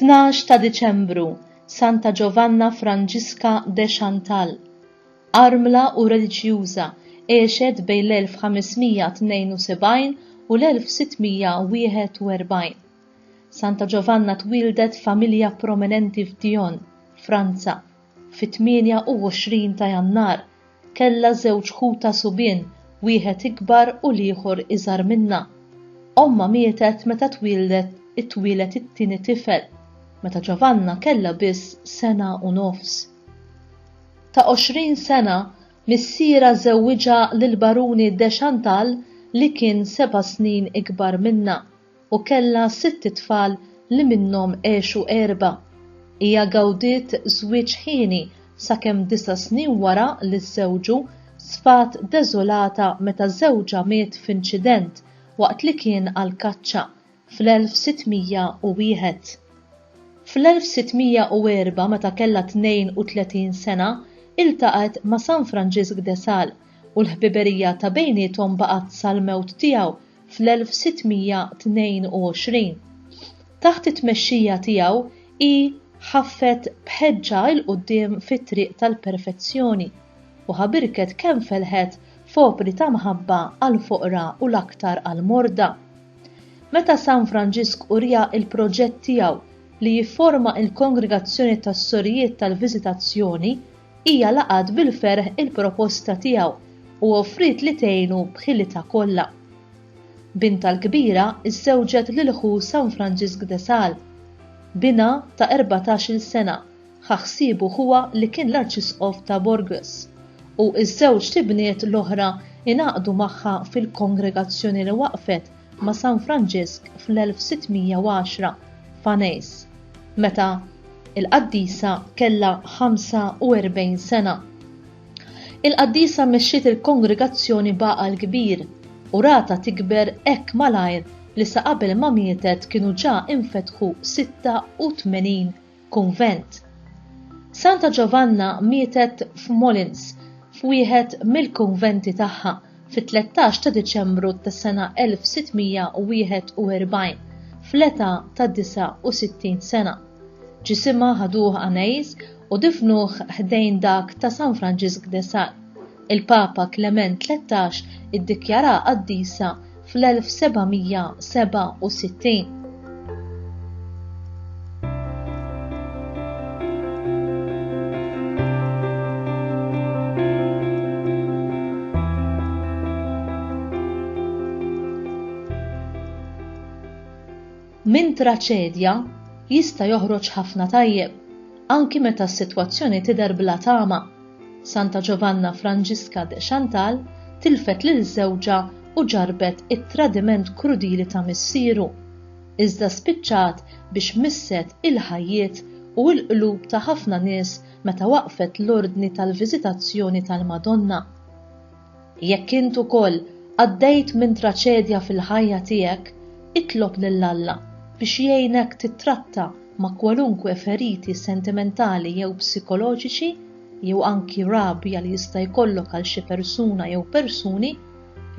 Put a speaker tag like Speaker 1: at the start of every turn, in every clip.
Speaker 1: Tnax ta' Diċembru, Santa Giovanna Franġiska de Chantal, armla u reliġjuża, għexet bejn l-1572 u l-1641. Santa Ġovanna twieldet f'familja prominenti f'Dijon, Franza, fit-28 ta' Jannar. Kellha żewġ ħutha subien, wieħed ikbar u l-ieħor iżgħar minnha. Ommha mietet meta twieldet itwieled it-tieni tifel, meta Ġovanna kellha biss sena u nofs. Ta' 20 sena, missierha żewwiġha lill-Baruni de Chantal li kien seba' snin ikbar minnha. u kellha sitt itfal li minnhom għexu erbgħa. Hija gawdiet żwieġ hieni sakemm disa' snin wara li żżewġu, sfat deżolata meta żewġha miet f'inċident waqt li kien għall-kaċċa fl-1601. Fl-1604 meta kellha 32 sena, iltaqgħet ma' San Franġisk de Sales u l-ħbiberija ta' bejniethom baqgħet sal-mewt tiegħu fl-1622. Taħt it-tmexxija tiegħu hi ħaffet b'ħeġġa 'il quddiem fit-triq tal-perfezzjoni u ħabirket kemm felħet f'opri ta' mħabba għall-foqra u l-aktar għall-morda. Meta San Franġisk uriha l-proġett tiegħu li jifforma l-Kongregazzjoni tas-Sorijiet tal-Viżitazzjoni, Hija laqgħet bil-ferħ il-proposta tiegħu u offriet li tgħinu b'ħilitha kollha. Bintha l-kbira żżewġet lil ħu San Franġisk de Sales. Binha ta' erbatax-il sena ħa ħsiebu ħuha li kien l-Arċisqof ta' Bourges, u ż-żewġt ibniet l-oħra ingħaqdu magħha fil-kongregazzjoni li waqfet ma' San Franġisk fl-1610 f'Anejs, meta l-qaddisa kellha 45 sena. Il-qaddisa mexxiet il-kongregazzjoni b'għaqal kbir u ratha tikber hekk malajr li sa qabel ma mietet kienu ġa infetħu 86 kunvent. Santa Ġovanna mietet f'Molins f'wieħed mill-kunventi tagħha fit-13 ta' Diċembru tas-sena 1641 fl-età ta' 69 sena. Ġisimha ħaduh Anais u difnuh ħdejn dak ta' San Franġisk de Sal. Il-Papa Klement Tlettax iddikjaraha qaddisa fl-1767. Minn traċedja jista' joħroġ ħafna tajjeb, anki meta s-sitwazzjoni tidher bla tama. Santa Giovanna Franġiska de Chantal tilfet lil żewġha u ġarrbet it-tradiment krudili ta' missieru, iżda spiċċat biex misset il-ħajjiet u l-qlub ta' ħafna nies meta waqqfet l-Ordni tal-Viżitazzjoni tal-Madonna. Jekk int ukoll għaddejt minn traċedja fil-ħajja tiegħek, itlob lil Alla biex jgħinek tittratta ma' kwalunkwe feriti sentimentali jew psikoloġiċi jew anki rabja li jista' jkollok għal xi persuna jew persuni,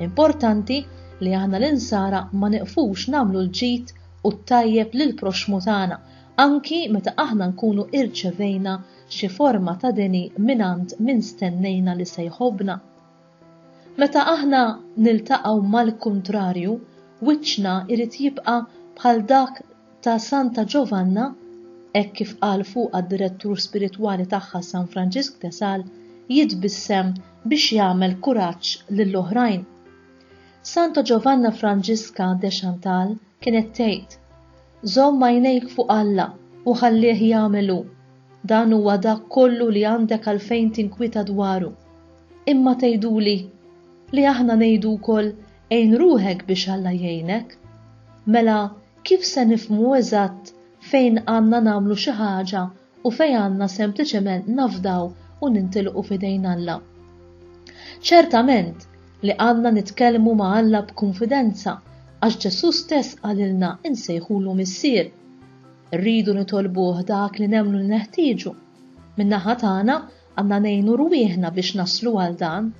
Speaker 1: importanti li aħna l-insara ma nieqfux nagħmlu l-ġid u t-tajjeb lill-proxxmu tagħna anki meta aħna nkunu irċevejna Xi forma ta' deni mingħand min stennejna li se jħobbna? Meta aħna niltaqgħu mal-kuntrarju, wiċċna jrid jibqa' bħal dak ta' Santa Ġovanna, hekk kif qal fuqha d-direttur spiritwali tagħha San Franġisk de Sales, jitbissem biex jagħmel kuraġġ lill-oħrajn. Santa Ġovanna Franġiska de Chantal kienet tgħid, Żomm għajnejk fuq Alla u ħallih jagħmel hu, dan huwa dak kollu li għandek għalfejn tinkwieta dwaru. Imma tgħiduli li aħna ngħidu wkoll għin ruħek biex Alla jgħinek. Mela kif se nifhmu eżatt fejn għandna nagħmlu xi ħaġa u fejn għandna sempliċement nafdaw u nintilqu f'idejn Alla. Ċertament li għandna nitkellmu ma' Alla b'kunfidenza għax Ġesù stess qalilna nsejħulu Missier. Irridu nitolbuh dak li nemmnu li neħtieġu. Min-naħa tagħna għandna ngħinu rwieħna biex naslu għal dan.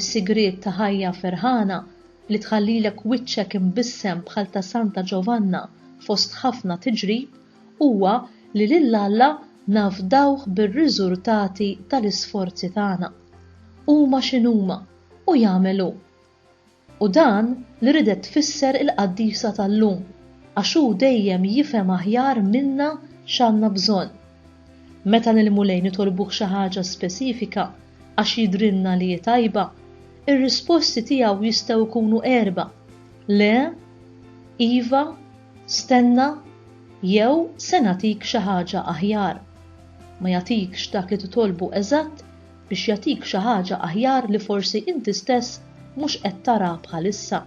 Speaker 1: Is-sigriet ta' ħajja ferħana li tħallilek wiċċek imbissem bħal ta' Santa Ġovanna fost ħafna tiġrib huwa li lil Alla nafdawh bir-riżultati tal-isforzi tagħna. Huma x'inhuma, u jagħmel hu. U dan li ridet tfisser il-qaddisa tal-lum, għax hu dejjem jifhem aħjar minna x'għandna bżonn. Meta lill-Mulej nitolbuh xi ħaġa speċifika għax jidhrilna li hi tajba, ir-risposti tiegħu jistgħu jkunu erbgħa, Le, Iva, Stenna, jew se nagħtik xi ħaġa aħjar. Ma jagħtikx dak li titolbu eżatt biex jagħtik xi ħaġa aħjar li forsi inti stess mhux qed tara bħalissa.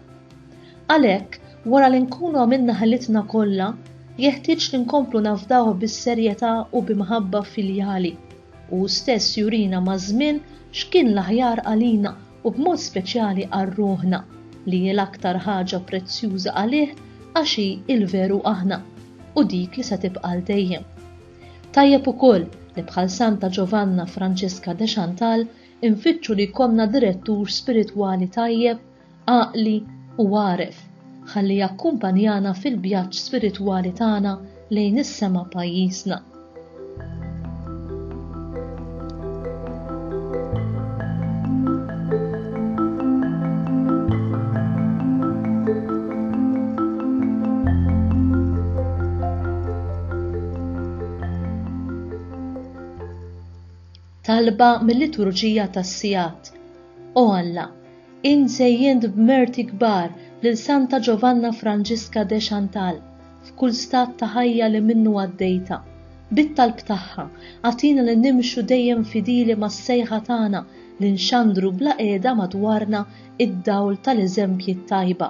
Speaker 1: Għalhekk, wara li nkunu għamilna ħilitna kollha, jeħtieġ li nkomplu nafdawh bis-serjetà u bi mħabba filjali. Hu stess jurina maż-żmien x'kien l-aħjar għalina u b'mod speċjali għal ruħna, li hi l-aktar ħaġa prezzjuża għalih għax hi l-veru aħna u dik li se tibqa' għal dejjem. Tajjeb ukoll li bħal Santa Ġovanna Franġiska de Chantal infittxu li jkollna direttur spiritwali tajjeb, għaqli u għaref. Ħalli jakkumpanjana fil-vjaġġ spiritwali tagħna lejn is-sema pajjiżna. talba mill-liturġija tas-sigħat. O Alla, Int żejjent b'merti kbar lil Santa Giovanna Franġiska de Chantal f'kull stat ta' ħajja li minnu għaddejta. Bit-talb tagħha, agħtina li nimxu dejjem fidili mas-sejħa tagħna li nxandru bla qiegħda madwarna id-dawl tal-eżempji t-tajba.